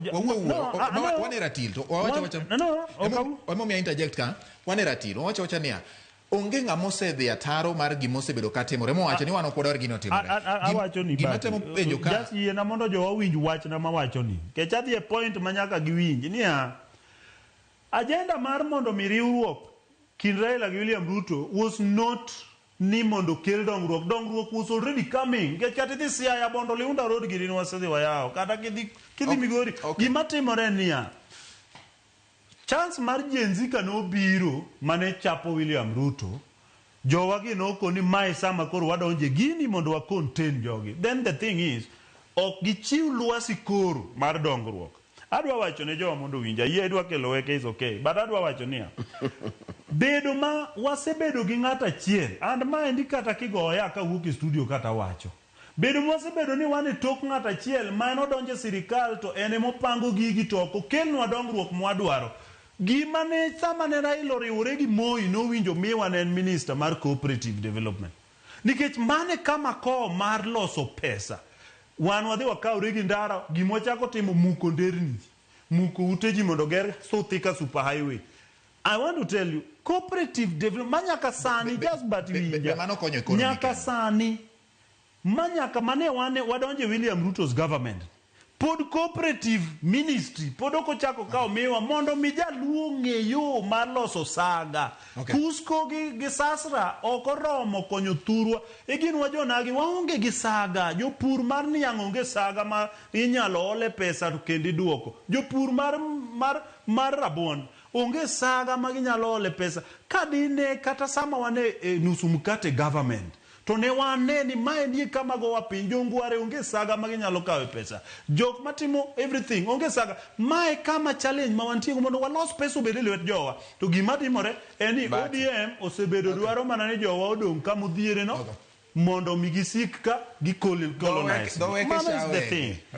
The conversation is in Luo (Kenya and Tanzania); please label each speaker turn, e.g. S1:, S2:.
S1: Ja- Wawuo wuo. No, ah, no. Wan e ratil to wawacha Wan- wacha. no, no, Emo- okaw. Emo mi interject ka. Wan e ratil. Wawacha wacha niya. Onge ng'ama osedhi ataro mar gima osebedo ka timore. Mo wacho ni wan ok wadwar gino A- timore. a- a- Gim- awacho ni Gima basi.
S2: temo penjo ka. Just
S1: yiena mondo jowa
S2: winj wachna mawacho ni kech adhi e point ma nyaka giwinj niya ajenda mar mondo mi riwruok kind Raila gi William Ruto was not ni mondo okel dongruok, dongruok was already coming nikech kata idhi Siaya, Bondo, Liunda road gini ne wasedhi wayawo kata kidhi kidhi Ok, Migori. ok. Gima timore en niya, chance mar Gen Z kane obiro mane chapo William Ruto, jowa gi noko ni mae sama koro wadonjo e gini mondo wa contain jogi. Then the thing is, ok gichiw lwasi koro mar dongruok. Adwa wacho ne jowa mondo owinja, ayie idwa kelo weke is okay but adwa wacho niya, bedo ma wasebedo gi ng'ato achiel and maendi kata kigoya kawuok e studio ka tawacho, bedo ma wasebedo ni wan e tok ng'ato achiel ma en odonjo e sirikal to en ema opango gigi to ok okelnwa dongruok ma wadwaro. Gima ne sama ne Raila oriwore gi Moi nowinjo miwa ne en Minister mar Cooperative Development. Nikech mano e kama kowo mar loso pesa. Wan wadhi wakawre gi ndara, gima wachako timo muko nderni ji, muko ute ji mondo oger suthi ka super highway. I want to tell you, cooperative development ma nyaka sani, just but winja, nyaka sani, ma nyaka mane wadonjo e William Ruto's government, Pod cooperative ministry pod ok ochako kawo miwa mondo omi jaluo ong'e yo mar loso saga. Okay. Kusko gi, gi sasra ok oromo konyo thurwa. E gin wa jonagi waonge gi saga. Jopur mar niang' onge saga ma inyalo ole pesa to kendo iduoko. Jopur mar, mar, mar rabuon onge saga ma ginyalo ole pesa. Ka dine kata sama wan e, e nusu mkate government, To ne wane ni mae nie kama gowa piny. Jo Ngware onge saga ma ginyalo kawe pesa. Jok matimo everything onge saga. Mae kama challenge ma wantiego mondo walos pesa obed e lwet jowa. To gima timore en ni ODM osebedo okay. dwaro mana ni jowa odong kama odhiere no okay. mondo mi gisik ka gi colonize. Mama is the thing.